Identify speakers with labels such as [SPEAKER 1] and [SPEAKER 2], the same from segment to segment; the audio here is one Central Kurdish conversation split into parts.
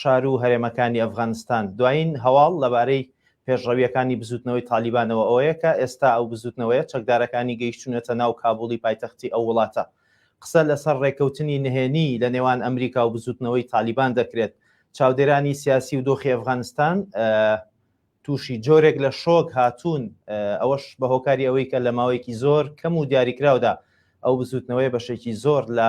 [SPEAKER 1] شارو هەرێمەکانی ئەفغانستان. دوایین هەواڵ لەبارەی پێشڕەوییەکانی بزووتنەوەی تالیبانەوە ئەوەیە کە ئێستا ئەو بزووتنەوەیە چەکدارەکانی گەیشتوونەتە ناو کابوڵی پایتەختی ئەو وڵاتە. قسە لەسەر ڕێککەوتنی نهێنی لە نێوان ئەمریکا و بزووتنەوەی تالیبان دەکرێت. چاودێرانی سیاسی و دۆخی ئەفغانستان تووشی جۆرێک لە شۆک هاتوون، ئەوەش بە هۆکاری ئەوەی کە لە ماوەیەکی زۆر کەم و دیاریکراودا ئەو بزووتنەوەیە بەشێکی زۆر لە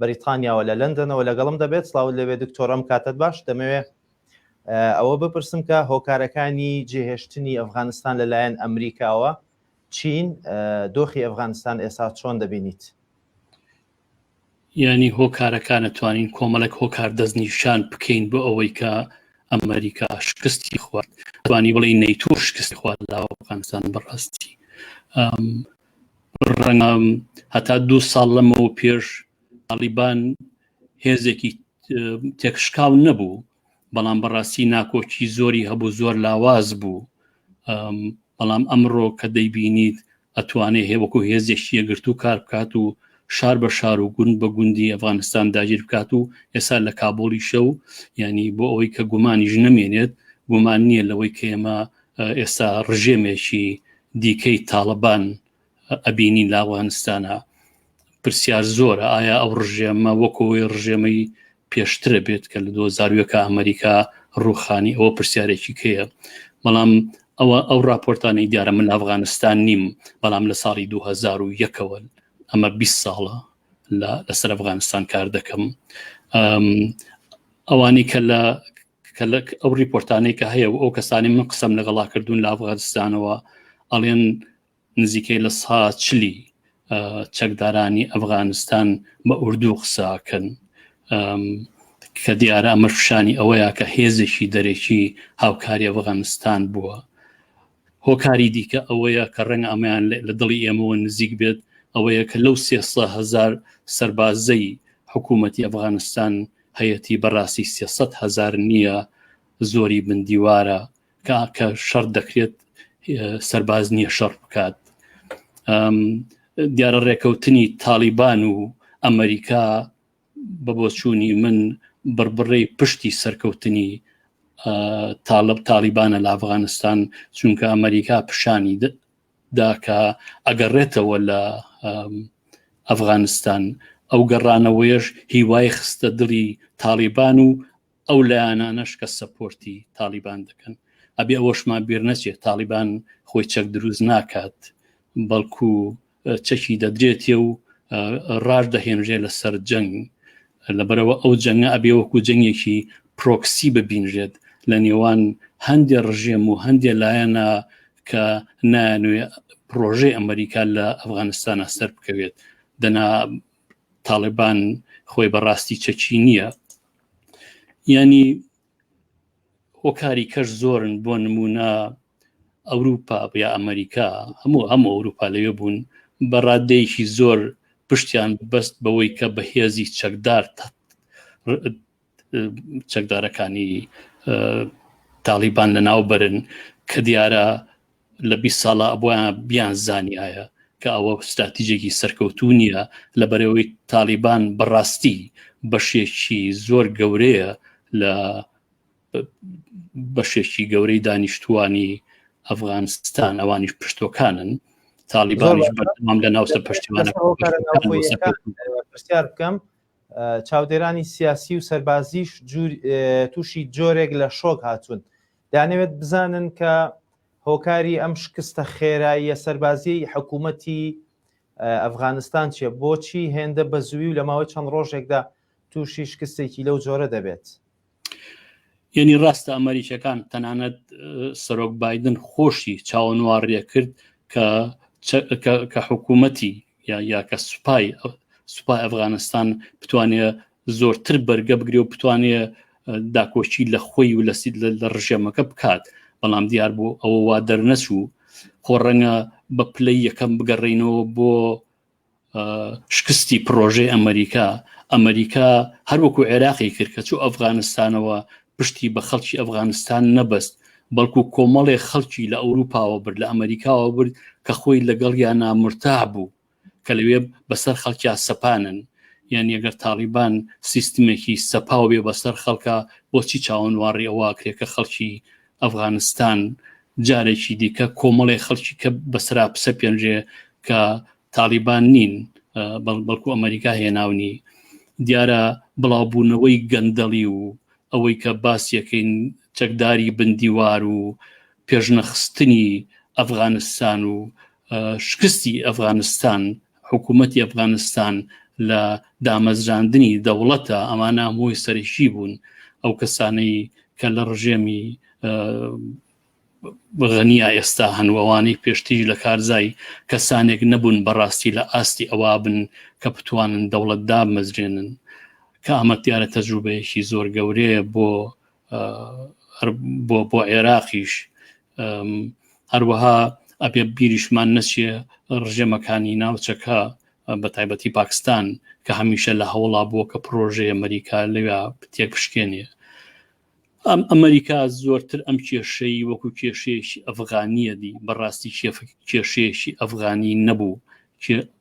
[SPEAKER 1] بەریتانیاوە لە لەندەنەوە لەگەڵم دەبێت سڵاوت لێبێ دکتۆر ئەم کاتەت باش دەمەوێ ئەوە بپرسم کە هۆکارەکانی جێهێشتنی ئەفغانستان لەلایەن ئەمریکاوە چین دۆخی ئەفغانستان ئێسا چۆن دەبینیت
[SPEAKER 2] ینی هۆکارەکانە توانین کۆمەڵێک هۆکار دەستنیشان بکەین بۆ ئەوەی کە ئەمریکا شکستی خوارد توانی بڵی نەیتۆ شکستی خوارد لە ئەفغانستان بەڕاستی ڕەنگە هەتا دوو ساڵ لەمەوە پێش ئەڵیبان هێزێکی تێکشکاو نەبوو بەڵام بەڕاستی ناکۆکی زۆری هەبوو زۆر لاواز بوو بەڵام ئەمڕۆ کە دەیبینیت ئەتوانێ هێوەکو هێزێکی یەگرت و کار بکات و شار بە شار و گوند بە گوندی ئەفغانستان داگیر بکات و ئێستا لە کابۆڵی شە و ینی بۆ ئەوەی کە گومانیش نەمێنێت گومان نییە لەوەی کە ئێمە ئێستا ڕژێمێکی دیکەی تاڵەبان ئەبینین لە ئەوغانستانە پرسیار زۆرە ئایا ئەو ڕژێمە وەکەوەی ڕژێمەی پێشترە بێت کە لە دۆزارویەکە ئەمریکا ڕوخانی ئەوە پرسیارێکی کەیە بەڵام ئەوە ئەو راپۆرتانی دیارە من ئەفغانستان نیم بەڵام لە ساڵی 2001ەوە ئەمە 20 ساڵە لەسەر ئەفغانستان کار دەکەم ئەوانی کە لە کە لە ئەو ریپۆرتانەی کە هەیە و ئەو کەسانی من قسەم لەگەڵا کردوون لە ئەفغانستانەوە ئەڵێن نزیکەی لە سا چلی چەکدارانی ئەفغانستان بە ئوردو قساکەن کە دیارە ئەمەششانی ئەوەیە کە هێزێکی دەرێکی هاوکاری ئەفغانستان بووە هۆکاری دیکە ئەوەیە کە ڕەنگە ئەمەیان لە دڵی ئێمەوە نزیک بێت ئەوەیە کە لەو سێسە هزار سەربازەی حکوومەتی ئەفغانستان هەیەی بەڕاستی سێسە هزار نییە زۆری بندیوارە کە کە شەڕ دەکرێت سەرباز نییە شەڕ بکات دیارە ڕێکەوتنی تاالبان و ئەمریکا بە بۆچوونی من بڕبڕەی پشتی سەرکەوتنی تاالب تاالبانە لە ئەفغانستان چونکە ئەمریکا پیشانی داکە ئەگەڕێتەوە لە ئەفغانستان ئەو گەڕانەوەیش هیوای خستە دڵی تاالبان و ئەو لایەنانەش کە سەپۆرتی تاڵیبان دەکەن ئەبێ ئەوەشمان بیر نەچێت تاڵیبان خۆی چەک دروست ناکات بەڵکو چەکی دەدرێتێ و ڕاش دەهێنرێ لەسەر جەنگ لەبەرەوە ئەو جەنگە ئەبێ وەکو جەنگێکی پرۆکسی ببینرێت لە نێوان هەندێک ڕژێم و هەندێک لایەنە کە نانوێ پرۆژەی ئەمریکا لە ئەفغانستانە سەر بکەوێت دەنا تاالبان خۆی بەڕاستی چەکی نییە ینی هۆکاری کەش زۆرن بۆ نمونە ئەوروپا یا ئەمریکا هەموو هەم ئەوروپا لەوێ بوون بە ڕادەیەکی زۆر پشتیان بەست بەوەی کە بەهێزی چەکدار چەکدارەکانی تاڵیبان لە ناو برن کە دیارە لە 20 ساڵە ئەبیان بیان زانایە کە ئەوە ستراتیژێکی سەرکەوتو نییە لە بەرەوەی تاالبان بەڕاستی بەشێکی زۆر گەورەیە لە بەشێکی گەورەی دانیشتوانی ئەفغانستان ئەوانیش پشتۆکانن تاالبانیش بەردەوام لە ناوسەر پشتیوانە پرسیار
[SPEAKER 1] بکەم چاودێرانی سیاسی و سەربازیش تووشی جۆرێک لە شۆک هاتوون دانەوێت بزانن کە هۆکاری ئەم شکستە خێراییە سەربازی حکوومەتی ئەفغانستان چیە بۆچی هێندە بە زووی و لە ماوەی چەند ڕۆژێکدا تووشی شکستێکی لەو جۆرە دەبێت یعنی
[SPEAKER 2] ڕاستە ئەمریکیەکان تەنانەت سەرۆک بادن خۆشی چاوەنوواڕێ کرد کە کە حکوومەتی یا یا کە سوپای سوپای ئەفغانستان بتوانێت زۆرتر بەرگە بگرێ و بتوانێت داکۆشی لە خۆی و لە سید لە ڕژێمەکە بکات بەڵام دیار بۆ ئەوە وا دەرنەچوو خۆ ڕەنگە بە پلەی یەکەم بگەڕینەوە بۆ شکستی پرۆژەی ئەمریکا ئەمریکا هەروەکو عێراقی کرد کە چوو ئەفغانستانەوە پشتی بە خەڵکی ئەفغانستان نەبەست بەڵکو کۆمەڵێ خەڵکی لە ئەوروپاوە برد لە ئەمریکاوە برد کە خۆی لەگەڵ یا نامرتا بوو کە لەوێ بەسەر خەڵکیا سەپانن یان یەگەر تاالبان سیستمێکی سەپاو بێ بەسەر خەڵکە بۆچی چاوەنواڕی ئەوواکرێ کە خەڵکی ئەفغانستان جارێکی دیکە کۆمەڵی خەڵکی کە بەسرا پسە پێنجێ کە تاالبان نین بەڵکو ئەمریکا هێناونی دیارە بڵاوبوونەوەی گەندەڵی و ئەوەی کە باسیەکەین چەکداری بندیوار و پێشنەخستنی ئەفغانستان و شکستی ئەفغانستان حکوومەتی ئەفغانستان لە دامەزراندنی دەوڵەتە ئەمانە هەمووی سەرشی بوون ئەو کەسانەی کە لە ڕژێمی بغەنیا ئێستا هەنووەوانی پێشتیژ لە کارزای کەسانێک نەبوون بەڕاستی لە ئاستی ئەوە بن کە بتوانن دەوڵەت دامەزرێنن کە ئەمە دیارە تەجروبەیەکی زۆر گەورەیە بۆ بۆ بۆ عێراقیش هەروەها ئەبێ بیریشمان نەچێ ڕژێمەکانی ناوچەکە بە تایبەتی پاکستان کە هەمیشە لە هەوڵا بووە کە پرۆژەیە ئەمریکا لەوێ تێکشکێنێ ئەم ئەمریکا زۆرتر ئەم کێشەی وەکو کێشێکی ئەفغانیە دی بەڕاستی کێشێکی ئەفغانی نەبوو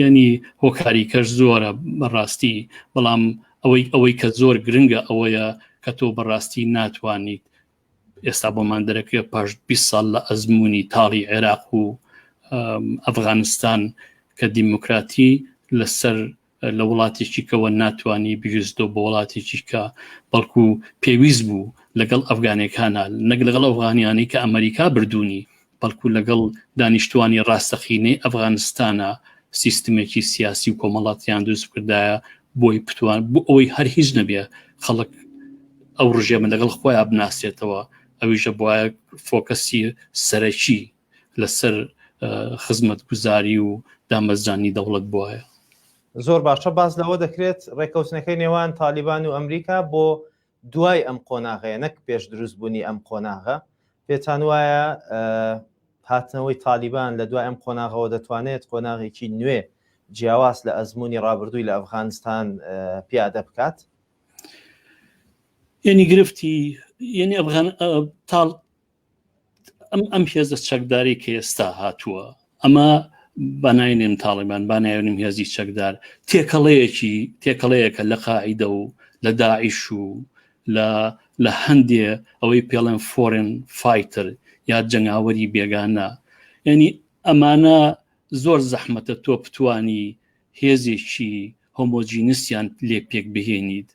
[SPEAKER 2] یعنی هۆکاری کەش زۆرە بەڕاستی بەڵام ئەوەی ئەوەی کە زۆر گرنگە ئەوەیە کە تۆ بەڕاستی ناتوانیت ئێستا بۆمان دەرەکە پاش 20 ساڵ لە ئەزمموی تاڵی عێراق و ئەفغانستان کە دیموکراتی لەسەر لە وڵاتێکی کەەوە ناتانی بویستۆ بە وڵاتێکی کە بەڵکو پێویست بوو لەگەڵ ئەفغانەکانە نەک لەگەڵ ئەفغانیانی کە ئەمریکا بردوونی بەڵکو لەگەڵ دانیشتوانی ڕاستەقینەی ئەفغانستانە سیستمێکی سیاسی و کۆمەڵاتیان دروست کردایە بۆی پتوان بۆ ئەوەی هەر هیچ نەبێ خەڵک ئەو ڕژێمە لەگەڵ خۆیان بناسێتەوە ئەویشە بواە فۆکەسی سەرەکی لەسەر خزمەت گوزاری و دامەزرانی دەوڵەت بواە زۆر باشە
[SPEAKER 1] باز لەوە دەکرێت ڕێککەوتنەکەی نێوان تالیبان و ئەمریکا بۆ دوای ئەم قۆناغەیە نەک پێش دروست بوونی ئەم قۆناغە پێتان وایە هاتنەوەی تالیبان لە دوای ئەم قۆناغەوە دەتوانێت قۆناغێکی نوێ جیاواز لە ئەزمموی ڕابردووی لە ئەفغانستان پیادە بکات
[SPEAKER 2] یعنی گرفتی یعنی ئەفغان تاڵ ئەم ئەم هێزە چەکداری کە ئێستا هاتووە ئەمە بەناینێن تاڵیبان بانایونیم هێزی چەکدار تێکەڵەیەکی تێکەڵەیەکە لە قاعیدە و لە داعیش و لە لە هەندێ ئەوەی پێڵێن فۆرن فایتر یا جەنگاوەری بێگانە یعنی ئەمانە زۆر زەحمەتە تۆ بتانی هێزێکی هۆمۆجینسیان لێ پێک بهێنیت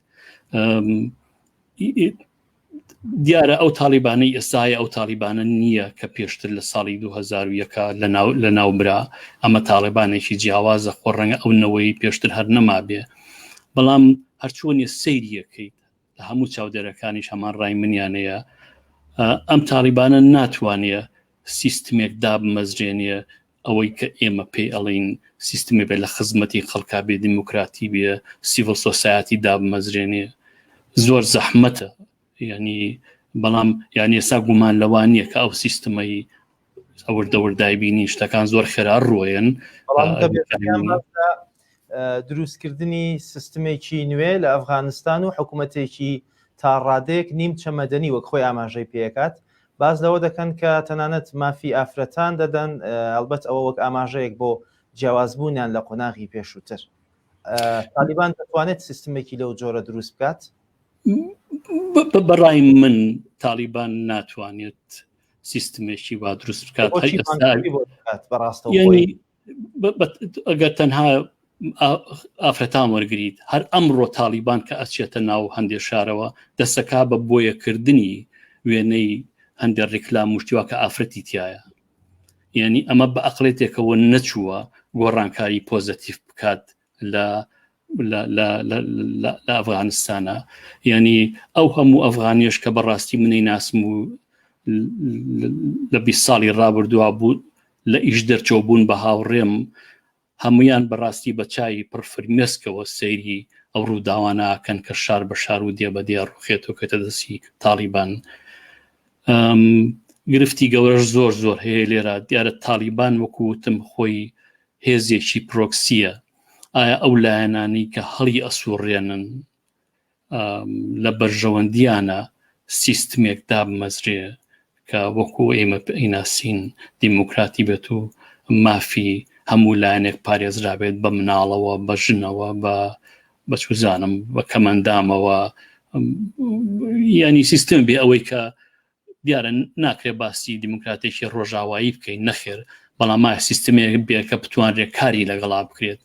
[SPEAKER 2] دیارە ئەو تاالبانەی ئێستاە ئەو تاالبانە نییە کە پێشتر لە ساڵی 2010ەکە لە ناوبرا ئەمە تاالبانێکی جیاوازە خۆ ڕەنگە ئەو نەوەی پێشتر هەر نەما بێ بەڵام هەرچوەنیە سەیریەکەیت لە هەموو چاودێرەکانیش هەمان ڕای منیانەیە ئەم تاالبانە ناتوانێت سیستمێک دابمەزرێنە ئەوەی کە ئێمە پێی ئەڵین سیستمی بێ لە خزمەتی خەڵکا بێ دیموکراتی بێ سیڤل سۆسایەتی دابمەزرێنێ زۆر زەحمەتە ینی بەڵام یانی ئێستا گومان لەوان نییە کە ئەو سیستمەی ئەوەر دەوردای بینی شتەکان زۆر خێرا ڕۆیەن
[SPEAKER 1] دروستکردنی سیستمێکی نوێ لە ئەفغانستان و حکوومەتێکی تا ڕادێک نیم چەمەدەنی وەک خۆی ئاماژەی پێکات باس لەوە دەکەن کە تەنانەت مافی ئافرەتان دەدەن، ئەڵبەت ئەوە وەک ئاماژەیەک بۆ جیاوازبوونیان لە قۆناغی پێشووتر. تالیبان دەتوانێت سیستمێکی لەو جۆرە دروست بکات؟
[SPEAKER 2] بەڕای من تالیبان ناتوانێت سیستمێکی وا دروست بکات
[SPEAKER 1] بەڕاستەوە
[SPEAKER 2] ئەگەر تەنها ئافرەتان وەرگیت هەر ئەمڕۆ تاالبان کە ئەچێتە ناو هەندێک شارەوە دەسەکە بە بۆیەکردنی وێنەی هەندێک ڕیکلام مشتیوا کە ئافرەتی تایە یعنی ئەمە بە ئەقلێتێکەوە نەچووە گۆڕانکاری پۆزەتیف بکات لە لە ئەفغانستانە ینی ئەو هەموو ئەفغانیش کە بەڕاستی منی ناسم و لە بی ساڵی ڕابردووا بوو لە ئیش دەرچەوە بوون بە هاوڕێم هەمویان بەڕاستی بە چای پرفرمێسکەوە سەیری ئەو ڕووداوانەکەن کە شار بە شار و دێ بە دێ ڕوخێت و کەتە دەستی تاڵیبان گرفتی گەورەش زۆر زۆر هەیە لێرە دیارە تاڵیبان وەکوتم خۆی هێزێکی پرۆکسیە ئایا ئەو لایەنانی کە هەڵی ئەسوڕێنن لە بەرژەوەندیانە سیستمێک دابمەزرێ کە وەکو ئێمە ئیناسین دیموکراتی بێت و مافی هەموو لایەنێک پارێزرابێت بە مناڵەوە بە ژنەوە بە بەچوزانم بە کەمەندامەوە ینی سیستم بێ ئەوەی کە دیارە ناکرێ باسی دیموکراتێکی ڕۆژاوایی بکەین نەخێر بەڵام ما سیستمێک بێ کە بتوانرێ کاری لەگەڵا بکرێت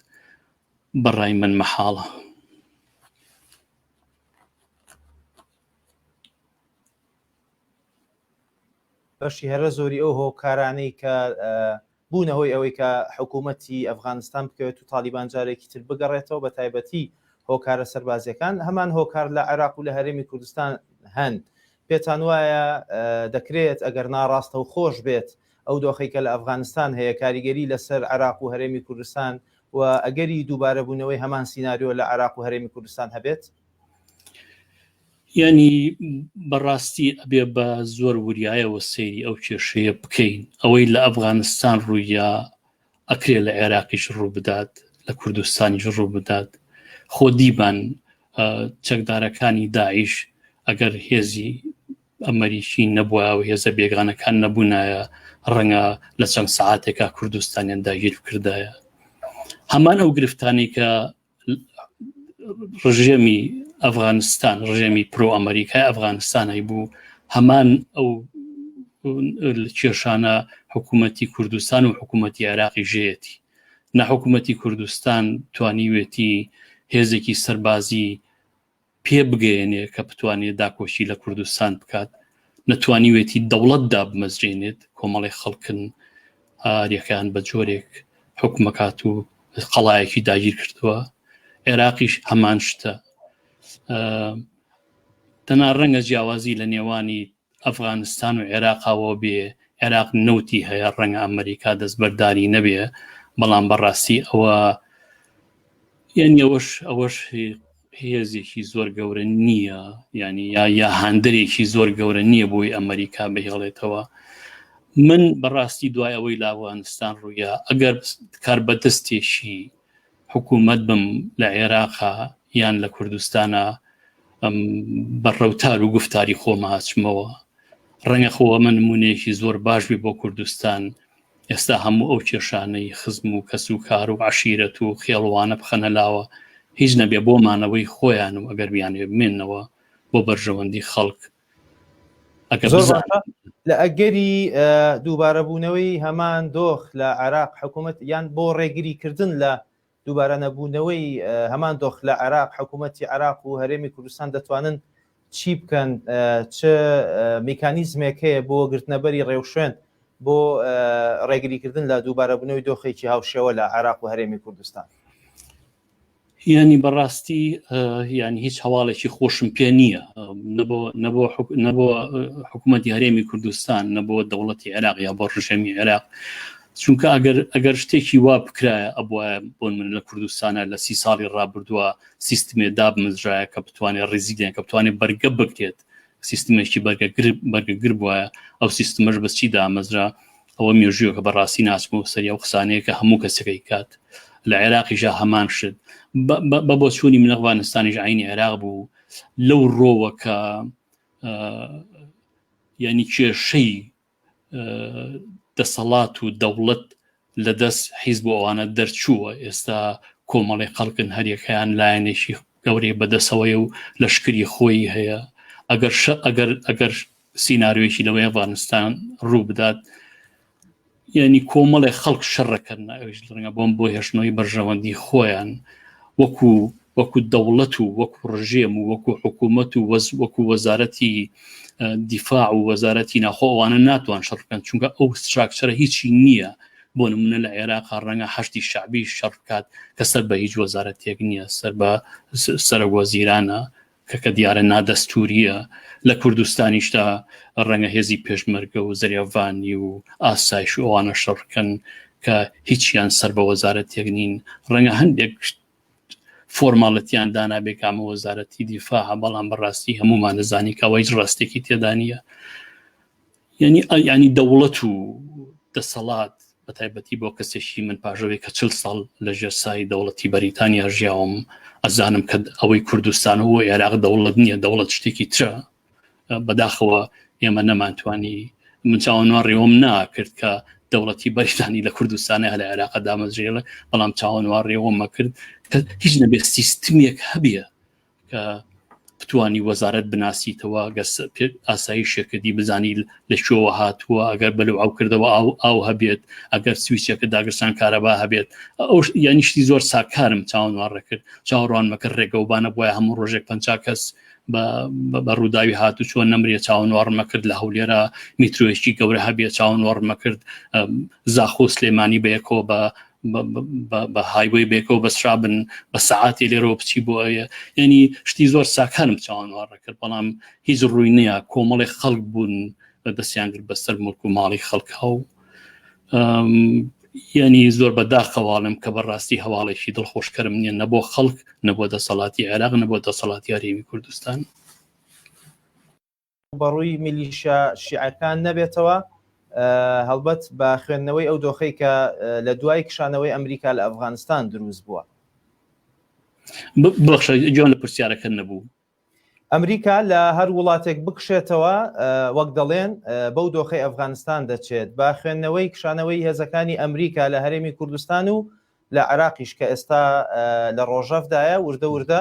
[SPEAKER 2] بەڕای من مەحاڵە
[SPEAKER 1] بەشی هەرە زۆری ئەو هۆکارانەی کە بوونە هۆی ئەوەی کە حکوومەتی ئەفغانستان بکەوێت و تاڵیبان جارێکی تر بگەڕێتەوە، بەتایبەتی هۆکارە سەربازییەکان، هەمان هۆکار لە عێراق و لە هەرێمی کوردستان هەن. پێتان وایە دەکرێت، ئەگەر ناڕاستەوخۆش بێت، ئەو دۆخەی کە لە ئەفغانستان هەیە، کاریگەری لەسەر عێراق و هەرێمی کوردستان و ئەگەری دووبارەبوونەوەی هەمان سیناریۆ لە عێراق و هەرێمی کوردستان هەبێت؟
[SPEAKER 2] یانی بەڕاستی ئەبێ بە زۆر وریایەوە سەیری ئەو کێشەیە بکەین ئەوەی لە ئەفغانستان ڕوویە ئەکرێ لە عێراقیش ڕوو بدات لە کوردستانیش ڕوو بدات خۆ دیبان چەکدارەکانی داعش ئەگەر هێزی ئەمەریکی نەبووە و هێزە بێگانەکان نەبوونایە ڕەنگە لە چەند سعاتێکا کوردستانیان داگیر بکردایە هەمان ئەو گرفتانی کە ڕژێمی ئەفغانستان ڕژێمی پرۆ ئەمریکای ئەفغانستانەی بوو هەمان ئەو کێشانە حکوومەتتی کوردستان و حکوومەتتی عێراقی ژێتی نە حکوومەتتی کوردستان توانیوێتی هێزێکی سەربازی پێ بگەێنێ کە بتوانێت داکۆشی لە کوردستان بکات نەتوانیوێتی دەوڵەت دابمەزرێنێت کۆمەڵی خەڵکن ئاریەکان بە جۆرێک حکومەکات و قەڵایەکی داگیر کردووە عێراقیش هەمان شتە تەنا ڕەنگە جیاوازی لە نێوانی ئەفغانستان و عێراقەوە بێ عێراق نەوتی هەیە ڕەنگە ئەمریکا دەستبەرداری نەبێ بەڵام بەڕاستی ئەوە یعنی ئەوەش ئەوەش هێزێکی زۆر گەورە نییە ینی یا یا هاندەرێکی زۆر گەورە نییە بۆی ئەمریکا بهێڵێتەوە من بەڕاستی دوای ئەوەی لاوانستان ڕوویا ئەگەر کار بەدەستێکی حکوومەت بم لە عێراقا یان لە کوردستانە بە ڕەوتار و گفتاری خۆماچمەوە ڕەنگە خۆوە من نمونەیەکی زۆر باش بێ بۆ کوردستان ئێستا هەموو ئەو کێشانەی خزم و کەس و کار و عشیرەت و خێڵوانە بخەنە لاوە هیچ نەبێ بۆ مانەوەی خۆیان و ئەگەر بیانێ بمێنەوە بۆ بەرژەوەندی خەڵک زۆر باشە
[SPEAKER 1] لە ئەگەری دووبارەبوونەوەی هەمان دۆخ لە عراق حکوومەت یان بۆ ڕێگری کردن لە دووبارە نەبوونەوەی هەمان دۆخ لە عراق حکوومەتتی عراق و هەرێمی کوردستان دەتوانن چی بکەن چ میکانیزمێک هەیە بۆ گرتنەبەری ڕێوشوێن بۆ ڕێگریکردن لە دووبارەبوونەوەی دۆخێکی هاوشێوە لە عراق و هەرێمی کوردستان
[SPEAKER 2] یانی بەڕاستی یان هیچ هەواڵێکی خۆشم پێ نییە نەبووە حکوومەت هەرێمی کوردستان نەبووە دەوڵەتی عێراق یا بۆ ڕژێمی عێراق چونکە ئەگەر ئەگەر شتێکی وا بکرایە ئەبواە بۆن من لە کوردستانە لە سی ساڵی ڕابردووە سیستمێ دابمزرایە کە بتوانێت ڕیزیدیان کە بتوانێت بەرگە بکرێت سیستمێکی بەرگەگر بەرگەگر بواە ئەو سیستمەش بەچی دامەزرا ئەوە مێژووە کە بەڕاستی ناسم و سەری ئەو قسانەیە کە هەموو کەسەکەی کات لە عێراقیشە هەمان شت بە بۆ چووی من ئەفغانستانیش عینی عێراق بوو لەو ڕۆوە کە ینی کێشەی دەسەڵات و دەوڵەت لە دەست حیز بۆ ئەوانە دەرچووە ئێستا کۆمەڵی خەڵکن هەریەکەیان لایەنێکی گەورەی بەدەسەوەی و لەشکری خۆی هەیە ئەگەر ئەگەر ئەگەر سیننارویەکی لەوەی ئەفغانستان ڕوو بدات یعنی کۆمەڵێ خەڵک شەڕەکەن ئەوش ڕەنگە بۆم بۆ هێشتنەوەی بەرژەوەندی خۆیان وەکو وەکو دەوڵەت و وەکو ڕژێم و وەکو حکوومەت و وەز وەکو وەزارەتی دیفاع و وەزارەتی ناخۆوانە ناتوان شەڕکەن چونکە ئەو ستراکچەرە هیچی نییە بۆ نمونە لە عێراق ڕەنگە هەشتی شعبی شەڕکات کە سەر بە هیچ وەزارەتێک نییە سەر بە سەرەوە زیرانە کە کە دیارە نادەستوورییە، لە کوردستانیشدا ڕەنگە هێزی پێشمەرگە و زریاڤانی و ئاسایش و ئەوانە شەڕ بکەن کە هیچیان سەر بە وەزارەتێک نین، ڕەنگە هەندێک فۆرماڵەتیان دانابێ کە ئەمە وەزارەتی دیفاع بەڵام بەڕاستی هەموومان دەزانین کە ئەوە هیچ ڕاستێکی تێدا نییە. یعنی یعنی دەوڵەت و دەسەڵات بە تایبەتی بۆ کەسێکی من پاژەوەی کە چل ساڵ لە ژێرسایی دەوڵەتی بەریتانیا ژیاوم ئەزانم کە ئەوەی کوردستان و عێراق دەوڵەت نییە دەوڵەت شتێکی ترە بەداخەوە ئێمە نەمانتوانی من چاوەنوا ڕێوم ناکرد کە دەوڵەتی بەریتانی لە کوردستانی هەل عێراق دامەزرێڵە بەڵام چاوەنوا ڕێوەمە کرد کە هیچ نەبێت سیستمێک هەبیە کە بتانی وەزارەت بناسیتەوە گەر ئاسایی شەکردی بزانیت لە شۆوە هاتووە ئەگەر بەلو ئەو کردەوە ئاو ئاو هەبێت ئەگەر سویسەکە داگرسان کارەبا هەبێت ئەو یانی شتی زۆر ساکارم چاوەڕێ کرد چاوەڕوانمەکە ڕێگەوبانە بۆە هەموو ڕۆژێک پ کەس بە ڕووداوی هاتو چۆن نەمرە چاوەنوارمە کرد لە هەولێرە میترۆیشتی گەورە هەبێ چاوەنوارمە کرد زاخۆ سلێمانی بەیەکەوە بە بە هایبۆی بێکەوە بەسرا بن بە سەعاتی لێرەوە بچی بۆ ئەوە ینی شتی زۆر ساکانم چاوانوارڕ کرد بەڵام هیچ ڕووی نییە کۆمەڵی خەڵک بوون بە دەستیان کرد بەسەر ملک و ماڵی خەڵکە و یعنی زۆر بەداخەواڵم کە بەڕاستی هەواڵێکی دڵخۆشکەرم نییە نە بۆ خەڵک نەبووە دەسەڵاتی عێراق نەبووە دەسەڵاتی یاریوی کوردستان
[SPEAKER 1] ڕوبەڕووی میلیشە شیعەکان نەبێتەوە هەڵبەت بە خوێندنەوەی ئەو دۆخەی کە لە دوای کشانەوەی ئەمریکا لە ئەفغانستان دروست بووە
[SPEAKER 2] بەخشە جۆن لە پرسیارەکە نەبوو ئەمریکا
[SPEAKER 1] لە هەر وڵاتێک بکشێتەوە وەک دەڵێن بەو دۆخی ئەفغانستان دەچێت با خوێندنەوەی کشانەوەی هێزەکانی ئەمریکا لە هەرێمی کوردستان و لە عراقیش کە ئێستا لە ڕۆژەفدایە وردە وردە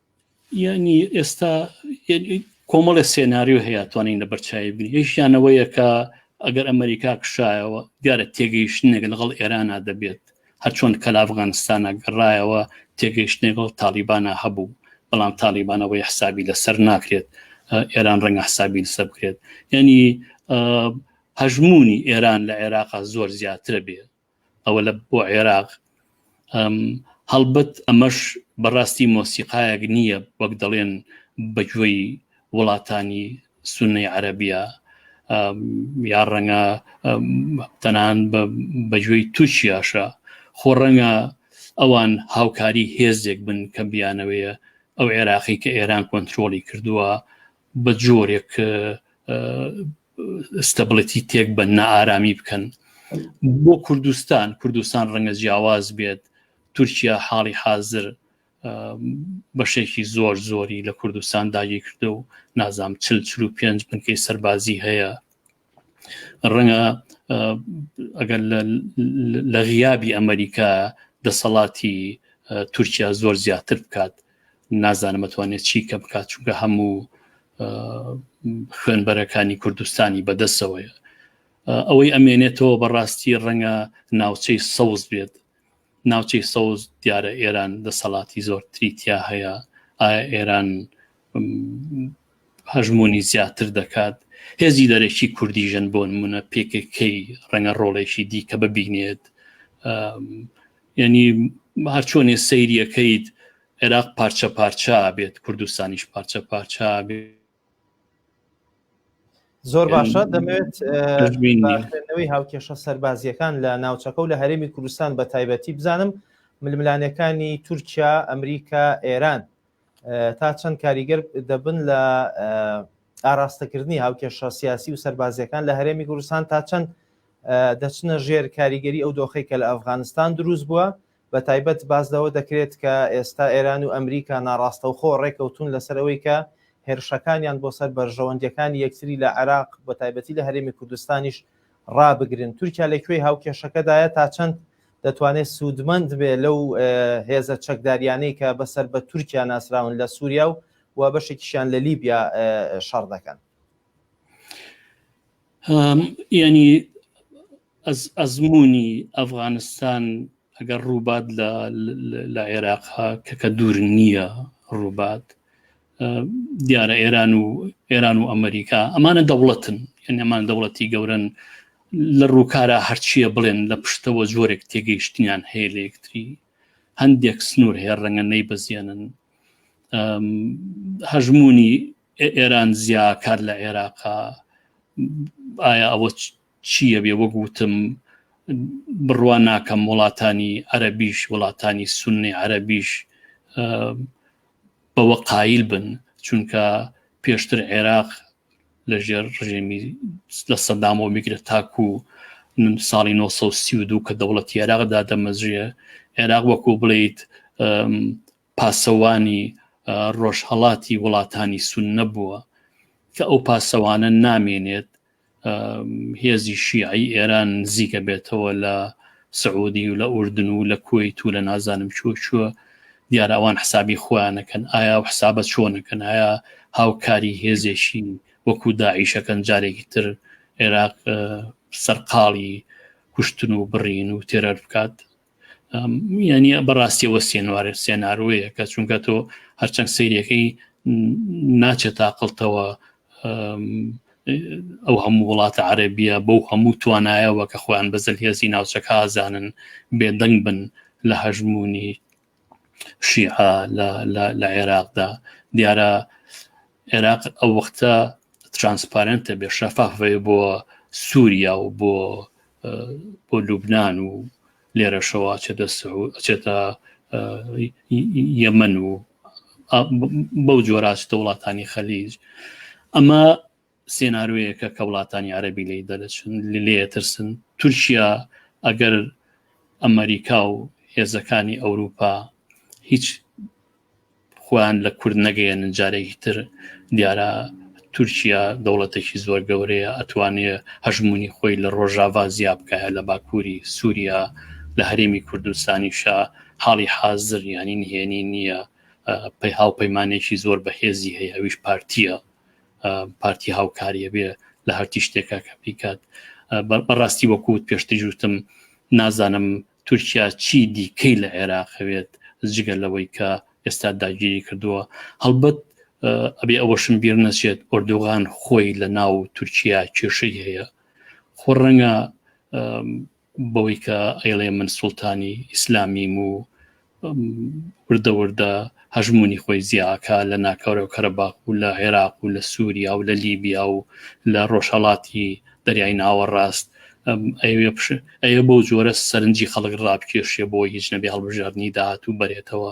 [SPEAKER 1] یعنی
[SPEAKER 2] ئێستا کۆمەڵێ سێناریو هەیە توانین لە بەرچوی بین یشیانەوەیە کە ئەگەر ئەمریکا کشایەوە دیارە تێگەیشتنێک لەگەڵ ئێرانا دەبێت هەرچۆن کە لە ئەفغانستانە گەڕایەوە تێگەیشتنێکەوە تاالبانە هەبوو بەڵام تاالبانەوەی حسابی لەسەر ناکرێت ئێران ڕەنگە حسابی لەسەر بکرێت یعنی هەژمونی ئێران لە عێراقا زۆر زیاترە بێ ئەوە لە بۆ عێراق هەڵبەت ئەمەش بەڕاستی مۆسیقایەک نییە وەک دەڵێن بەگوێی وڵاتانی سنەی عەربیە یا ڕەنگە تەنان بەگوێی تووشیاشە خۆ ڕەنگە ئەوان هاوکاری هێزێک بن کە بیانەوەیە ئەو عێراقی کە ئێران کۆنتترۆلی کردووە بە جۆرێک ستەبڵەتی تێک بە نائارامی بکەن بۆ کوردستان کوردستان ڕەنگە جیاواز بێت تورکیا حاڵی حاضر بەشێکی زۆر زۆری لە کوردستان داگی کردو و نازام چل چل و پێنج بنکەی سەربازی هەیە ڕەنگە ئەگەر لە غیابی ئەمریکا دەسەڵاتی تورکیا زۆر زیاتر بکات نازانم ئەتوانێت چی کە بکات چونکە هەموو خوێنبەرەکانی کوردستانی بەدەسەوەیە ئەوەی ئەمێنێتەوە بەڕاستی ڕەنگە ناوچەی سەوز بێت ناوچەی سەوز دیارە ئێران دەسەڵاتی زۆر تریتیا هەیە ئایا ئێران هەژمونی زیاتر دەکات هێزی دەرەکی کوردی ژەن بۆ نمونە پێکەکەی ڕەنگە ڕۆڵێکی دیکە ببینێت ینی هەرچۆنێ سەیریەکەیت عێراق پارچە پارچە بێت کوردستانیش پارچە پارچە بێت
[SPEAKER 1] زۆر باشە دەمەوێت خوێندنەوەی هاوکێشە سەربازیەکان لە ناوچەکە و لە هەرێمی کوردستان بە تایبەتی بزانم ململانەکانی تورکیا ئەمریکا ئێران تا چەند کاریگەر دەبن لە ئاراستەکردنی هاوکێشە سیاسی و سەربازیەکان لە هەرێمی کوردستان تا چەند دەچنە ژێر کاریگەری ئەو دۆخی کە لە ئەفغانستان دروست بووە بە تایبەت باس لەوە دەکرێت کە ئێستا ئێران و ئەمریکا ناڕاستەوخۆ ڕێککەوتوون لەسەر ئەوەی کە هێرشەکانیان بۆ سەر بەرژەوەندییەکانی یەکتری لە عێراق بە تایبەتی لە هەرێمی کوردستانیش ڕابگرن، تورکیا لە کوێی هاوکێشەکەدایە تا چەند دەتوانێت سوودمەند بێت لەو هێزە چەکدارییانەی کە بە سەر بە تورکیا ناسراون لە سووریا و و بەشێکیشیان لە لیبیا شەڕ دەکەن؟
[SPEAKER 2] ینی ئەزمموی ئەفغانستان ئەگەر ڕووبات لە عێراق کە کە دوور نییە ڕووبات دیارە ئێران و ئێران و ئەمریکا ئەمانە دەوڵەتن ئەمان دەوڵەتی گەورن لە ڕووکارە هەرچیە بڵێن لە پشتەوە جۆرێک تێگەیشتنیان هەیە لە یەکتری هەندێک سنوور هەیە ڕەنگە نەی بەزیێنن هەژمونی ئێران زیاکار لە عێراقا ئایا ئەوە چییە بێ وەک وتم بڕوان ناکەم وڵاتانی عەربیش وڵاتانی سنی عەربیش بەوە قایل بن چونکە پێشتر عێراق لە ژێر ڕژێمی لە سەدامەوە میگرە تاکو ساڵی 1932 کە دەوڵەتی عێراقدا دەمەزرێ عێراق وەکو بڵیت پاسەوانی ڕۆژهەڵاتی وڵاتانی سوننە بووە کە ئەو پاسەوانە نامێنێت هێزی شیعی ئێران نزیکە بێتەوە لە سعودی و لە ئوردن و لە کویت و لە نازانم چوە چوە دیارە ئەوان حسابی خۆیانەکەن ئایا و حسابە چۆنەکەن ئایا هاوکاری هێزێکی وەکو داعیشەکەن جارێکی تر عێراق سەرقاڵی کوشتن و بڕین و تێرەر بکات یعنی بەڕاستی وە سێنوارێ سێناروەیە کە چونکە تۆ هەرچەند سیرەکەی ناچێت تاقلتەوە ئەو هەموو وڵاتە عەربیە بەو هەموو توانایەوە کە خۆیان بەزل هێزی ناوچەکە ئازانن بێدەنگ بن لە هەژمونی شیعە لە عێراقدا دیارە عێراق ئەو وەختە ترانسپارنتە بێ شەفافێ بۆ سووریا و بۆ بۆ لوبناان و لێرەشەوە چێتە چێتە یەمەن و بەو جۆراستە وڵاتانی خەلیج ئەمە سێنارۆیەکە کە وڵاتانی عەربی لی دەرەچن لێ ترسن تورکیا ئەگەر ئەمریکا و هێزەکانی ئەوروپا هیچ خۆیان لە کورد نەگەیەن جارێکی تر دیارە تورکیا دەوڵەتێکی زۆر گەورەیە ئەتوانێ هەژمونی خۆی لە ڕۆژاوا زیاب بکایە لە باکووری سووریا لە هەرێمی کوردستانیشە حاڵی حازر ینی نهێنی نییە پەی هاوپەیمانێکی زۆر بەهێزی هەیە ئەویش پارتیە پارتی هاوکاریە بێ لە هەرتی شتێکە کە بیکات بەڕاستی وەکووت پێشتر جوتم نازانم تورکیا چی دیکەی لە عێراقەوێت جگە لەوەی کە ئێستا داگیری کردووە هەڵبەت ئەبێ ئەوەشم بیر نەچێت ئۆردوغان خۆی لە ناو تورکیا کێشەی هەیە خۆ ڕەنگە بەوەی کە ئەیڵێ من سوڵتانی ئیسلامیم و وردە وردە هەژمونی خۆی زیاکە لە ناکەورە و کەرەباق و لە عێراق و لە سووریا و لە لیبیا و لە ڕۆژهڵاتی دەریای ناوەڕاست ئەوێ بۆ جۆرە سەرنجی خەڵک ڕابکێشێ بۆ هیچ نەبێ هەڵبژاردننی داات و بەرێتەوە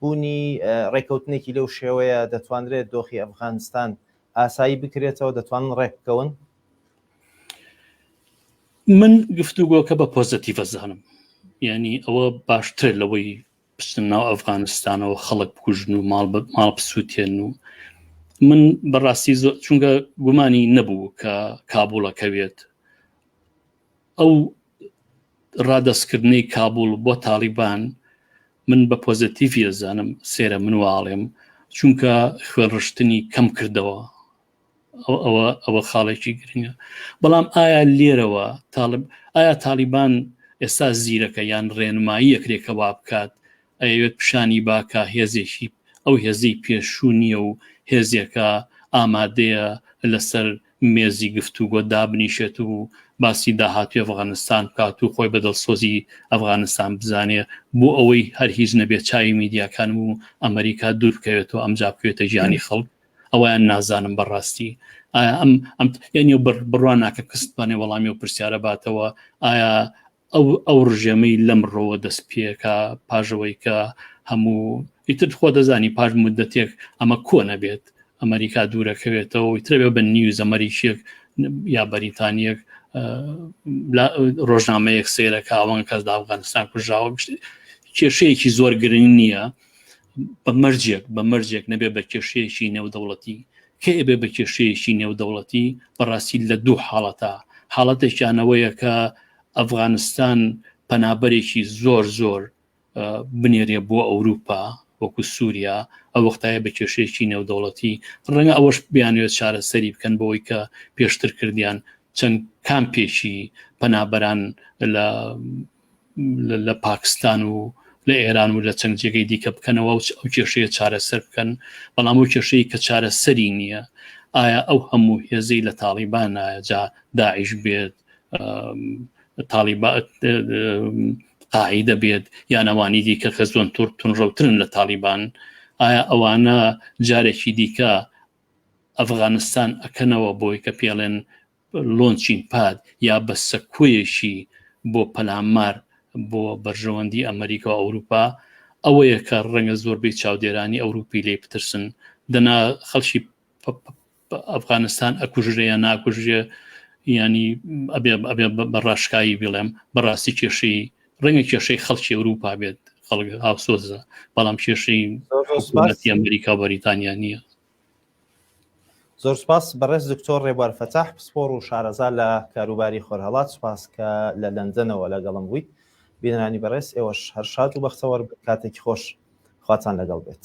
[SPEAKER 1] بوونی ڕێککەوتنێکی لەو شێوەیە دەتوانرێت دۆخی ئەفغانستان ئاسایی بکرێتەوە دەتوانن ڕێکبکەون؟
[SPEAKER 2] من گفتوگۆکە بە پۆزەتیڤە زانم یعنی ئەوە باشتر لەوەی بچن ناو ئەفغانستانەوە خەڵک بکوژن و ماڵ ماڵ بسووتێن و من بەڕاستی چونکە گومانی نەبوو کە کابووڵەکەوێت ئەو ڕادەستکردنەی کابوڵ بۆ تاڵیبان من بە پۆزەتیڤی ئەزانم سێرە من واڵێم چونکە خوێنڕشتنی کەم کردەوە ئەوە ئەوە خاڵێکی گرنگە بەڵام ئایا لێرەوە تاالب ئایا تاالبان ئێستا زیرەکە یان ڕێنمایی یەکرێکە وا بکات ئەوێت پیشانی باکە هێزێکی ئەو هێزی پێشوو نییە و هێزێکە ئامادەیە لەسەر مێزی گفتوگۆ دابنیشێت و باسی داهاتوی ئەفغانستان بکات و خۆی بە دڵسۆزی ئەفغانستان بزانێ بۆ ئەوەی هەر هیچ نەبێت چاوی میدیاکان و ئەمریکا دوور بکەوێتەوە ئەمجا بکوێتە گیانی خەڵک ئەویان نازانم بەڕاستی ئایا ئەم ئەم یعنی بڕوان ناکە کەستبانێ وەڵامی و پرسیارە باتەوە ئایا ئەو ئەو ڕژێمەی لەم ڕۆوە دەست پێکە پاژەوەی کە هەموو ئیتر خۆ دەزانی پاش مدەتێک ئەمە کۆ نەبێت ئەمریکا دوورەکەوێتەوە ترەوێ بە نیوز ئەمەریکیەک یا بەریتانیەک ڕۆژنامەیەک سێرەکە ئەوان کەس دا ئەفغانستان کوژاوە کێشەیەکی زۆر گرنگ نییە بە مەرجێک بە مەرجێک نەبێ بە کێشەیەکی نێودەوڵەتی کە ئێبێ بە کێشەیەکی نێودەوڵەتی بەڕاستی لە دوو حاڵەتە حاڵەتێکیانەوەیە کە ئەفغانستان پەنابەرێکی زۆر زۆر بنێرێ بۆ ئەوروپا وەکو سووریا ئە وەختایە بە کێشەیەکی نێودەوڵەتی ڕەنگە ئەوەش بیانوێت چارەسەری بکەن بەوەی کە پێشتر کردیان چەند کامپێکی پەنابەران لە لە پاکستان و لە ئێران و لە چەند جێگەی دیکە بکەنەوە و ئەو کێشەیە چارەسەر بکەن بەڵام ئەو کێشەیە کە چارەسەری نییە ئایا ئەو هەموو هێزەی لە تاڵیبان نایەجا داعش بێت تاڵیبا قاعدە بێت یانەوانی دیکە کە زۆن تور تونڕەوترن لە تاڵیبان ئایا ئەوانە جارێکی دیکە ئەفغانستان ئەکەنەوە بۆی کە پێڵێن لۆنچین پاد یا بە سەکۆیەکی بۆ پەلامار بۆ بەرژەوەندی ئەمریکا و ئەوروپا ئەوەیە کە ڕەنگە زۆربەی چاودێرانی ئەوروپی لی پترسن دەنا خەڵکی ئەفغانستان ئەکوژرێ یا ناکوژێ ینی ئەبێ بەڕاشکایی بڵێم بەڕاستی کێشەی ڕەنگە کێشەی خەڵکی ئەوروپا بێت خەڵک هاوسۆزە بەڵام کێشەی ئەمریکا بەریتانیا نییە
[SPEAKER 1] زۆر سپاس بەڕێز دکتۆر ڕێبوار فەتاح پسپۆڕ و شارەزا لە کاروباری خۆرهەڵات سپاس کە لە لەندەنەوە لەگەڵم بوویت بینرانی بەڕێز ئێوەش هەر شاد و بەختەوەر کاتێکی خۆش خواتان لەگەڵ بێت.